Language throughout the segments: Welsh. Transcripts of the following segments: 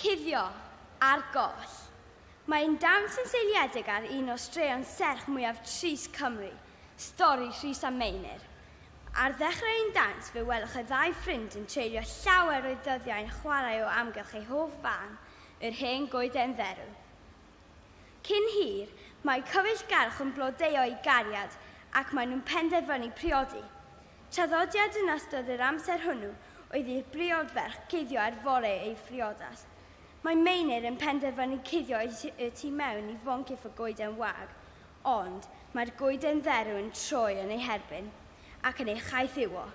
Cuddio, ar goll. Mae ein dawns yn seiliedig ar un o straeon serch mwyaf trist Cymru, stori Rhys a Meinir. Ar ddechrau ein dawns fe welwch y ddau ffrind yn treulio llawer o'u dyddiau yn chwarae o amgylch eu hoff fân, yr hen goeden dderw. Cyn hir, mae cyfeillgarwch yn blodeuo eu cariad ac maen nhw'n penderfynu priodi. Traddodiad yn ystod yr amser hwnnw oedd i'r briod ferch cuddio ar fore ei phriodas. Mae Meinir yn penderfynu cuddio y tu mewn i foncyff y goeden wag, ond mae'r goeden dderw yn troi yn ei herbyn ac yn ei chaethiwo.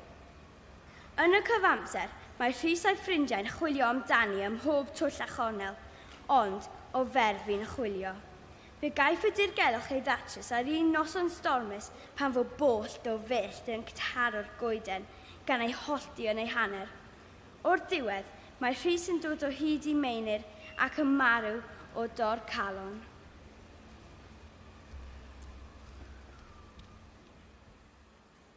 Yn y cyfamser, mae Rhys a'i ffrindiau'n chwilio amdani ym mhob twll a chornel, ond o fer fu'n chwilio. Fe gaiff y dirgelwch ei ddatrys ar un noson stormus pan fo boll do fyllt yn ctaro'r goeden, gan ei hollti yn ei hanner. O'r diwedd, mae Rhys yn dod o hyd i Meinir ac yn marw o dor calon.